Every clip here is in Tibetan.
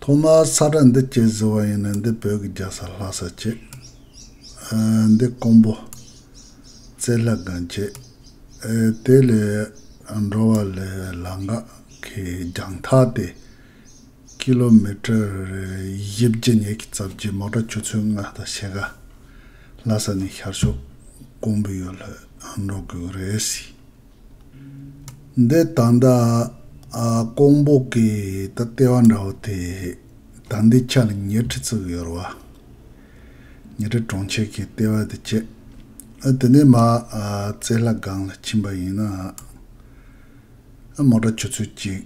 ཐོག་མར་ས་བཀྲ་འདི་བསྐྱེལ་ཟེར་བ་ཡིན་ན་འདི་བོད་ཀྱི་རྒྱ་ས་ལྷ་ས་བསྐྱེལ། འདི་ཀོང་པོ། རྩེ་ལྷ་སྒང་བསྐྱེལ། དེ་ལས་འགྲོ་བ་ལས་ལ་འགག་གི་རྒྱང་ཐག་སྟེ། ཀི་ལོ་མི་ཀྲེར་བཞི་བརྒྱ་ཉེ་གི་རྩ་བརྒྱད་མོ་ཀྲ་ཆུ་ཚོད་ལྔ་དང་ཕྱེད་ཀ། ལྷ་ས་ནས་ཤར་ཕྱོགས་ཀོང་པོའི་ཡུལ་ལྷོད་འགྲོ་དགོས་རེད། འདི་ད་ལྟ་ཀོང་པོ་གི་ད་ལྟའི་བ་འདྲ་བོ་དེ་ད་ལྟའི་ཆ་ལ་ཉེར་ཁྲི་ཙུག་ཡོད་རེད་བ། ཉེར་ཁྲི་གྲོང་ཁྱེར་གྱི་ལྟེ་བ་དེ་བཅད། དེ་ནས་མ་རྩེ་ལྷ་སྒང་ལ་ཕྱིན་པ་ཡིན་ན། མོ་དགྲ་ཆུ་ཚོད་གཅིག།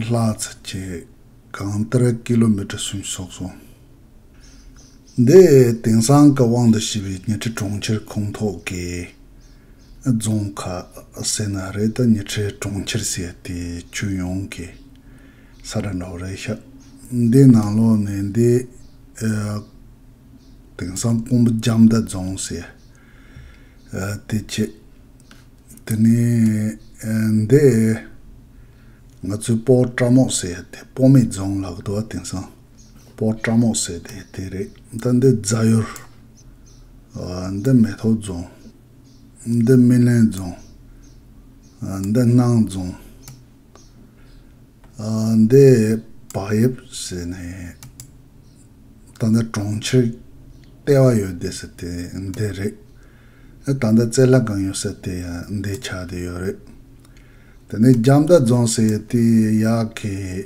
ལྷག་ཚེ་གཅིག། གང་ལྟར་ཀི་ལོ་མི་ཀྲི་སུམ་སོགས་སོང། འདི་དེང་སང་གི་དབང་དུ་བྱས་པའི་ཉི་ཁྲི་གྲོང་ཁྱེར་ཁོངས་ཐོག་གི་རྫོང་ཁག་ཟེར་ན་རེད་དཱ་ཉི་ཁྲི་གྲོང་ཁྱེར་ཟེར་དེ་ཁྱོན་ཡོངས་ཀྱི་ས་དགྲ་འདྲ་བོ་རེད་ཤག་འདི་ནང་ལོགས་ནས་འདི་དེང་སང་ཀོང་པོ་རྒྱ་མདའ་རྫོང་ཟེར་དེ་ཁྱེད་དེ་ནས་འདི་ང་ཚོའི་སྤོ་བྲ་མོག་ཟེར་དེ་སྤོ་མེད་རྫོང་ལགས་འདུག་དེང་སང། པོ་བཀྲ་མོག་བཟས་ཏེ་དེ་རེད་ད་འདི་རྫ་ཡུར། འདི་མེ་ཐོག་རྫོང། འདི་སྨིན་གླིང་རྫོང། འདི་སྣང་རྫོང། འདི་བག་ཡིབ་ཟེར་ནས་ད་ལྟ་གྲོང་ཁྱེར་ལྟེ་བ་ཡོད་དེ་ཟེར་དེ་འདི་རེད། ད་ལྟ་རྩེ་ལྷ་གང་ཡོད་ཟེར་དེ་ཡང་འདི་ཆགས་དེ་ཡོད་རེད། དེ་ནས་རྒྱ་མདའ་རྫོང་ཟེར་དེ་ཡག་གི།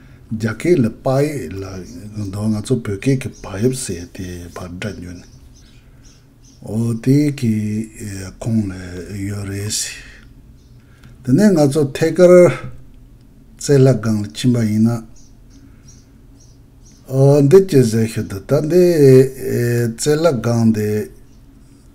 རྒྱ་སྐད་ལ་དཔག་ཡས་ལ་ཡོད་དོ་ང་ཚོ་བོད་སྐད་ཀྱི་བག་ཡོད་ཟེར་དེ་བར་སྒྲ་ཉོན། འོ་དེ་གི་ཁོང་ལ་ཡོད་རེད་ཟེར། དེ་ནས་ང་ཚོ་ཐད་ཀར་རྩེད་ལྷ་སྒང་ལ་ཕྱིན་པ་ཡིན་ན། འོ་འདི་ཅི་ཟེར་ཤོད་དུ་ད་འདི་རྩེད་ལྷ་སྒང་འདི།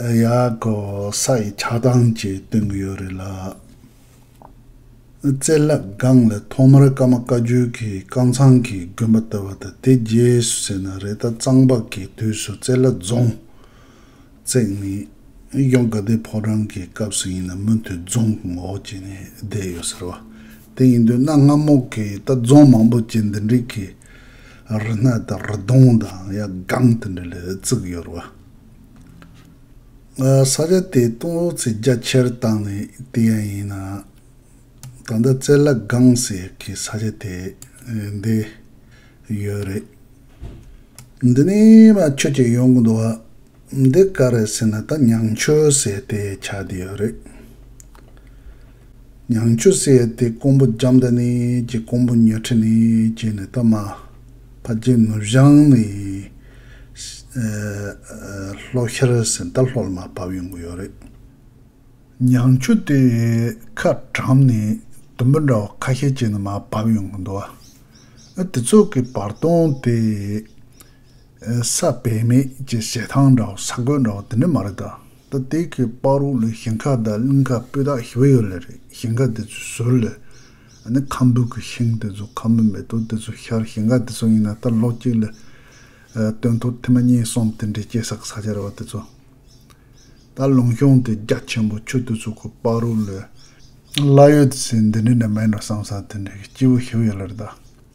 ཡག་གོ་ས་ཡི་ཆགས་སྡང་གཅིག་སྟོན་གྱི་ཡོད་རེད་ལ། རྩེ་ལག་སྒང་ལ་ཐོག་མར་ཀརྨ་བཀའ་བརྒྱུད་ཀྱི་རྐང་ཚང་གི་དགོན་པ་བཏོད་པ་དང་དེ་རྗེས་སུ་ཟེར་ན་རེ་ད་གཙང་པ་ཀའི་དུས་སུ་རྩེ་ལག་རྫོང་བརྩེགས་ནས་གཡོན་དགའ་ལྡན་ཕོ་བྲང་གི་སྐབས་སུ་ཡིན་ན་མུ་མཐུད་རྫོང་གི་འོག་བྱས་ནས་བསྡད་ཡོད་ཟེར་བ་དེ་ཡིན་དུས་གནའ་སྔ་མོ་གི་ད་རྫོང་མང་པོ་བཅས་འདི་འདྲིག་གི་རི་སྣ་དང་རི་གདོང་དང་ཡག་སྒང་དེ་འདྲ་ལ་བརྩིགས་ཡོད་རེད་བ། ས་ཆ་དེའི་སྟོང་ལོ་ཚད་རྒྱ་ཆེར་བཏང་ནས་བལྟས་ཡ་ཡིན་ན། ད་ལྟ་རྩེ་ལག་སྒང་ཟེར་གྱི་ས་ཆ་དེ་འདི་ཡོད་རེད། འདི་ནས་མ་ཁྱོད་ཀྱིས་ཡོང་གི་འདུག་འདི་ག་རེད་ཟེར་ན་ད་ཉང་ཆོས་ཟེར་དེའི་ཆ་དེ་ཡོད་རེད། ཉང་ཆུ་བསྲེས་ཏེ་རྐོང་བུ་འཇམ་མདའ་ནས་ཀྱི་རྐོང་བུ་ཉོ་ཁྲི་ནས་ཀྱི་ནི་ཏཱ་མ། ཕ་རྗེ་ནུབ་བྱང་ནས་ལྷོ་ཤར་སེང་རྟ་ལྷོ་ལ་མ་བབས་ཡོང་གི་ཡོད་རེད། ཉང་ཆུ་དེ་ཁ་གྲམ་ནས་དུམ་བུ་འདྲ་བ་ཁ་ཤས་ཀྱི་ནི་མ་བབས་ཡོང་གི་འདུག་ཨ། དེ་ཚོ་གི་བར་སྟོང་དེ། ས་བེད་མེད་ཀྱི་ཞལ་ཐང་འདྲ་བོ་ས་རྒོད་འདྲ་བོ་དེ་འདྲ་མ་རེད་དཱ། ད་ལྟའི་ཁའི་དཔའ་རོགས་ལས་ཞིང་ཁ་དང་གླིང་ཁ་སྤུས་དག་ཞིབ་ཡོད་ལེ་རེད་ཞིང་ཁ་དེ་ཚོའི་ཟུར་ལས། ཨ་ནི་ཁམ་བུ་གི་ཤིང་དེ་ཚོ་ཁམ་བུ་མེ་ཏོག་དེ་ཚོ་ཤར་ཞིང་ཁ་དེ་ཚོ་ཡིན་ན་ད་ལོག་ཅིག་ལེ། སྟོན་ཐོག་ཐེ་མ་གཉིས་གསུམ་དེ་འདྲའི་སྐྱེ་སར་ས་ཆ་རེད་བ་དེ་ཚོ། ད་ལུང་གཤོང་དེ་རྒྱ་ཆེན་པོ་ཆུ་དེ་ཚོ་གི་དཔའ་རོགས་ལས། གླ་ཡོད་དེ་ཚོས་འདི་འདྲའི་འདྲ་མིན་འགྲོ་བསམ་ས་དེ་འདྲའི་གི་སྐྱིད་པོ་ཞིབ་ཡོད་ལེ་རེད་དཱ།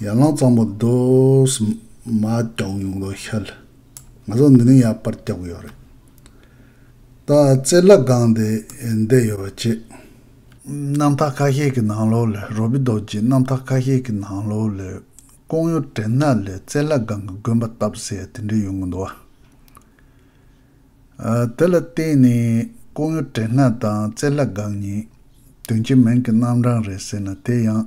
ཡར་ལངས་གཙང་པོ་འདུག། མ་བཀྱག་ཡུང་ལོ་ཤལ། ང་ཚོ་འདི་ནས་ཡར་པར་བཀྱག་གི་ཡོད་རེད། ད་རྩེ་ལག་སྒང་དེ་བསྡད་ཡོད་པ་ཅེས། གནམ་ཐག་ཁ་ཤས་ཀྱི་ནང་ལོགས་ལས་རོ་བི་རྡོག་ཅེས་གནམ་ཐག་ཁ་ཤས་ཀྱི་ནང་ལོགས་ལས་ཀོང་ཡོ་དྲན་ནཱ་ལས་རྩེ་ལག་སྒང་གི་དགོན་པ་བཏབ་ཟེར་དེ་འདྲས་ཡོང་གི་འདུག་ཨ། དེ་ལ་བརྟེན་ནས་ཀོང་ཡོ་དྲན་ནཱ་དང་རྩེ་ལག་སྒང་གཉིས་དོན་གྱི་མིང་གི་རྣམ་གྲངས་རེད་ཟེར་ན་དེ་ཡང།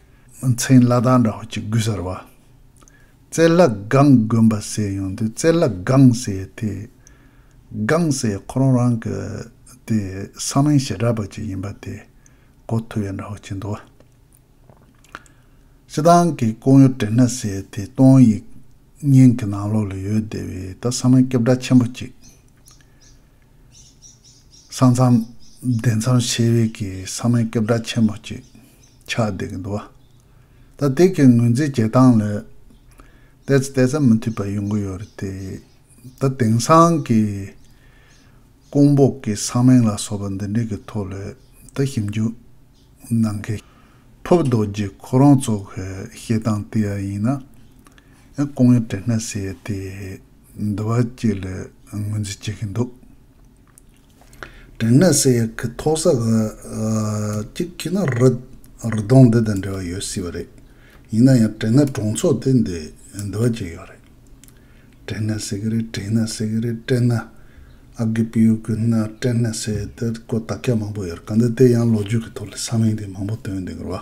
མཚན་བླ་དྭགས་འདྲ་བ་གཅིག་དགོས་ཟེར་བ། རྩེ་ལྷ་སྒང་དགོན་པ་ཟེར་ཡོང་དུས་རྩེ་ལྷ་སྒང་ཟེར་དེ། སྒང་ཟེར་ཁོ་རང་རང་གི་དེ་ས་མིང་ཞེ་དྲག་པ་གཅིག་ཡིན་པ་དེ་གོ་ཐུབ་ཡོད་འདྲ་བ་གཅིག་འདུག་བ། སྤྱི་བཏང་གི་ཀོང་ཡུལ་བྲེ་སྣ་ཟེར་དེ་སྟོང་ཡིག་རྙིང་གི་ནང་ལོགས་ལ་ཡོད་བསྡད་པའི་ད་ས་མིང་སྐྱོབ་གྲྭ་ཆེན་པོ་གཅིག། ས་མཚམས་བདེ་འཚམས་ཆེ་བས་ཀྱི་ས་མའི་སྐད་བརྡ་ཆེན་མོ་གཅིག་ཆགས་བསྡད་ཀྱི་འདུག་བ། ད་དེ་གའི་ངོས་འཛིན་བྱེད་སྟངས་ལས། བལྟས་ཚེ་བལྟས་ཚད་མི་མཐུད་པ་ཡོང་གི་ཡོད་རེད་དེ། ད་དེང་སང་གི་ཀོང་པོ་གི་ས་མིང་ལ་སོགས་པ་འདི་འདྲའི་གི་ཐོག་ལ་ད་ཞིབ་འཇུག་གནང་མཁན་ཕུབ་རྡོ་རྗེ་ཁོ་རང་ཚོ་གི་བཤད་སྟངས་དེ་ཡང་ཡིན་ན། ཡང་ཀོང་ཡོ་དྲེ་སྣ་ཟེར་ཡོད་དེ། འདི་བ་གཅིག་ལ་ངོས་འཛིན་བྱེད་ཀྱི་འདུག་དྲན་ནས་སེ་ཡ་གི་ཐོག་ས་ག་གཅིག་གིས་ན་རི་གདོང་འདི་དང་འབྲེལ་བ་ཡོད་སྲིད་པ་རེད། ཡིན་ན་ཡང་དྲན་ནས་གྲོང་ཚོ་དེ་འདི་འདི་བ་གཅིག་ཡོད་རེད། དྲན་ནས་སེ་གི་རེད་དྲན་ནས་སེ་གི་རེད་དྲན་ནས་ཨ་གི་པི་ཡུ་གི་ན་དྲན་ནས་སེ་དེར་ཀོ་ད་སྐད་མང་པོ་ཡོད་རེད་ག་འདི་དེ་ཡང་ལོ་རྒྱུས་ཀྱི་ཐོག་ལ་ས་མིང་དེ་མང་པོ་བཏོན་འདུག་གི་རེད་བ།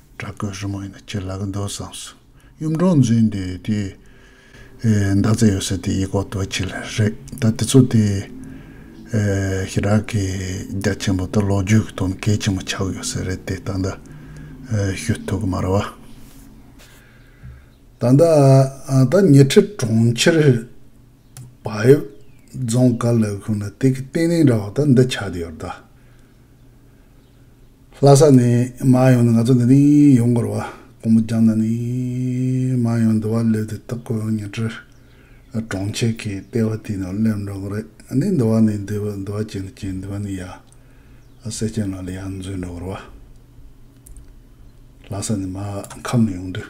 བྲག་བརྐོས་རི་མོ་ཡིན་ན་ཁྱེད་ལ་གི་འདུག་བསམས་སོང། གཡུ་འབྲོང་འཛིན་དེ་དེའི་མདའ་རྩེ་ཡོད་ས་དེ་ཡིག་ཁོག་ཏུ་ཁྱེར་རེད་ད་དེ་ཚོ་དེ་ཤི་རག་གི་རྒྱ་ཆེན་པོ་དང་ལོ་རྒྱུས་ཀྱི་དོན་གལ་ཆེན་པོ་ཆགས་ཡོད་ས་རེད་དེ་ད་ལྟ་ཤོད་ཐུབ་གི་མ་རེད་བ། ད་ལྟ་ད་ཉེ་འཁྲིས་གྲོང་ཁྱེར་བག་ཡོད་རྫོང་དཀར་ལ་ཁུག་ན་དེ་གི་སྟེང་རིང་ར་བ་ད་འདི་ཆགས་དེ་ཡོད་རེད་ད། ལྷ་ས་ནས་མ་ཡོང་ནས་ང་ཚོ་འདི་ནས་ཡོང་དགོས་ར་བ་ཀོང་པོ་རྒྱང་ན་ནས་མ་ཡོང་འདི་བ་ལོས་དེ་དག་གོ་ཉེ་ཁྲི་གྲོང་ཁྱེར་གི་ལྟེ་བ་དེ་ནས་སླེབས་འགྲོ་གི་རེད་ནས་འདི་བ་ནས་འདི་བ་བྱེད་འདི་བྱེད་འདི་བ་ནས་ཡ་སེ་སྐྱེན་ལགས་ལ་ཡ་འཛུལ་འགྲོ་གི་ར་བ་ལྷ་ས་ནས་མ་ཁམས་ལ་ཡོང་དུས།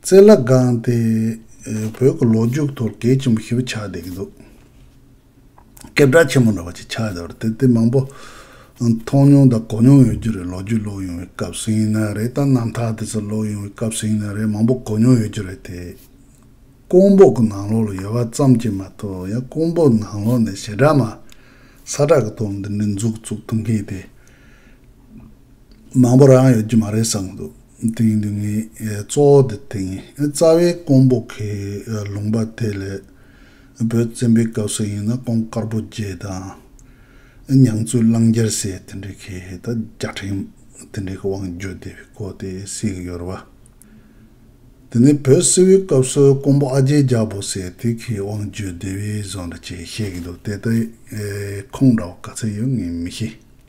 རྩེ་ལ་དགང་སྟེ་བོད་ཀྱི་ལོ་རྒྱུས་ཐོག་གལ་ཆེན་པོ་ཞིག་ཆགས་བསྡད་ཀྱི་འདུག་སྐད་གྲགས་ཆེན་པོ་འདྲ་བ་ཞིག་ཆགས་བསྡད་པ་རེད་དེ་མང་པོ་མཐོང་མྱོང་དང་གོ་མྱོང་ཡོད་རྒྱུ་རེད་ལོ་རྒྱུས་ཀློག་ཡོང་བའི་སྐབས་སུ་ཡིན་ན་རེད་དང་རྣམ་ཐར་དེ་ཚོ་ཀློག་ཡོང་བའི་སྐབས་སུ་ཡིན་ན་རེད་མང་པོ་གོ་མྱོང་ཡོད་རྒྱུ་རེད་དེ། ཀོང་པོ་གི་ནང་ལོགས་ལ་ཡོད་པ་ཙམ་གྱིས་མ་གཏོགས་ཡང་ཀོང་པོ་ནང་ལོགས་ནས་ཞེ་དྲག་མ་ས་བྲག་གི་སྟོང་འདི་འདྲའི་མཛུག་བཙུགས་ཐུབ་མཁན་དེ་མང་པོ་རང་ཡོད་རྒྱུ་མ་རེད་བསམ་གྱི་འདུག། དེ་ཡིན་དུས་ངས་གཙོ་བོ་དེ་དེ་ཡིན། རྩ་བའི་ཀོང་པོ་ཁའི་ལུང་པ་དེ་ལས། བོད་བཙན་པོའི་སྐབས་སུ་ཡིན་ན་ཀོང་དཀར་པོ་རྒྱལ་དང། མྱང་ཙུའི་གླང་རྒྱལ་སྲས་དེ་འདྲ་གི་ད་བརྒྱ་ཕྲེང་དེ་འདྲའི་དབང་བརྒྱུད་བསྡད་པའི་སྐོར་དེ་གསལ་གི་ཡོད་རེད་བ། དེ་ནས་བོད་སིལ་བུའི་སྐབས་སུ་ཀོང་པོ་ཨ་རྒྱལ་རྒྱལ་པོ་སྲས་དེ་གི་དབང་བརྒྱུད་བསྡད་པའི་བཟོ་འདྲ་བྱས་བཤད་གི་འདུག་དེ་ལྟའི་ཁུངས་འདྲ་བ་ག་ཚོད་ཡོད་ངས་མི་ཤེས།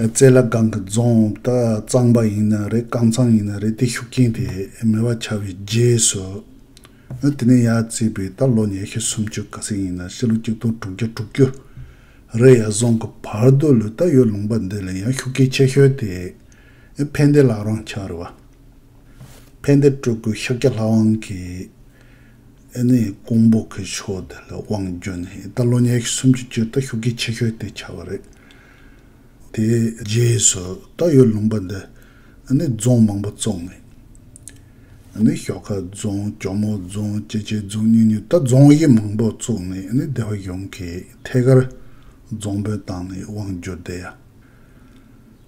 རྩེ་ལ་སྒང་གི་རྫོང་ད་གཙང་པ་ཡིན་ན་རེད་རྐང་ཚང་ཡིན་ན་རེད་དེ་ཤུགས་རྐྱེན་དེ་མེད་པ་ཆགས་པའི་རྗེས་སུ། ཨ་དེ་ནས་ཡར་བརྩིས་པའི་ད་ལོ་ཉེར་ཤུ་སུམ་ཅུ་ག་ཚད་ཡིན་ན་ཕྱི་ལོ་གཅིག་སྟོང་དྲུག་བརྒྱ་དྲུག་ཅུ་རེད་ཡར་སོང་གི་བར་དུ་ལོས་ད་ཡོད་ལུང་པ་འདི་ལས་ཡང་ཤུགས་རྐྱེན་ཆེ་ཤོས་དེ་ཕན་བདེ་ལགས་རང་ཆགས་རེད་བ། ཕན་བདེ་སྤྲུལ་སྐུ་ཤཱཀྱ་ལྷ་དབང་གིས། ཨེ་ནི་ཀོང་པོ་གི་ཕྱོགས་དེ་ལ་དབང་བསྒྱུར་ནས་ད་ལོ་ཉེར་གསུམ་གྱི་དཀྱིལ་ལྟ་ཤུགས་ཀྱིས་ཕྱི་བཤོལ་དེ་བྱ་བ་རེད། དེའི་རྗེས་སུ་རྟ་ཡོས་ལུང་པ་འདི་ནི་རྫོང་མང་པོ་བཙུགས་ནས། ཨེ་ནི་ཞོགས་ཁ་རྫོང་གྱོ་མོ་རྫོང་སྐྱེ་ཆེན་རྫོང་གཉིས་གཉིས་རྟ་རྫོང་དབྱེ་མང་པོ་བཙུགས་ནས་ཨེ་ནི་སྡེ་བ་གཞུང་གིས་ཐད་ཀར་རྫོང་དཔོན་བཏང་ནས་དབང་བསྒྱུར་བསྡད་ཡ།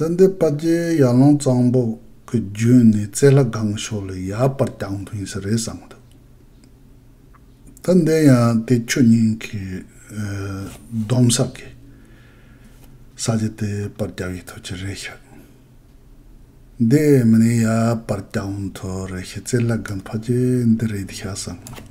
ད་འདི་དཔའ་རྒྱལ་ཡར་ལངས་གཙང་པོ་གི་རྒྱུན་ནས་རྩེ་ལྷ་སྒང་ཕྱོགས་ལ་ཡར་བར་རྒྱང་ཕིན་ས་རེད་བསམ་འདུག་ད་འདི་ཡང་དེ་ཁྱོད་གཉིས་ཀྱི་སྡོམ་ས་གི་ས་ཆ་དེ་བར་རྒྱག་ཡི་ཐུག་ཀྱི་རེད་ཤག་འདི་མི་ནས་ཡར་བར་རྒྱང་ཐུག་རེད་ཤག་རྩེ་ལྷ་སྒང་ཕ་རྒྱལ་འདི་རེད་ཤག་བསམ་འདུག།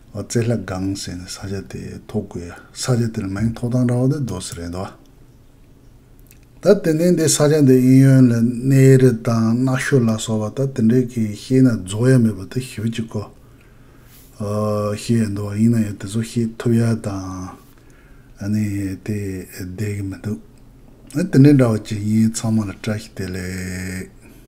རྩེ་ལྷ་སྒང་ཟེར་ནས་ས་ཆ་དེ་ཐོག་དགོས་ཡ། ས་ཆ་དེར་མིང་ཐོག་དང་འདྲ་བ་དེ་རྡོ་སི་རེད་འདུག་ད་ཏན་ཏན་དེ་ས་ཆ་འདི་དབྱིན་ཡོན་ལ་གནས་རི་དང་གནའ་ཤུལ་ལ་སོགས་པ་ད་དེ་འདྲས་ཀྱི་ཤེས་ན་རྫོགས་ཡ་མེད་པ་དེ་ཞི་བ་གཅིག་གོ། ཤེས་ཡ་འདུག་ཡིན་ན་ཡང་དེ་ཚོ་ཤེས་ཐུབ་ཡ་དང་ཨ་ནི་དེ་བསྡད་ཀྱི་མི་འདུག་ཨ་དེ་འདྲས་འདྲ་བ་ཅིག་ཡིན་ཚང་མ་ལ་བཀྲ་ཤིས་བདེ་ལེགས།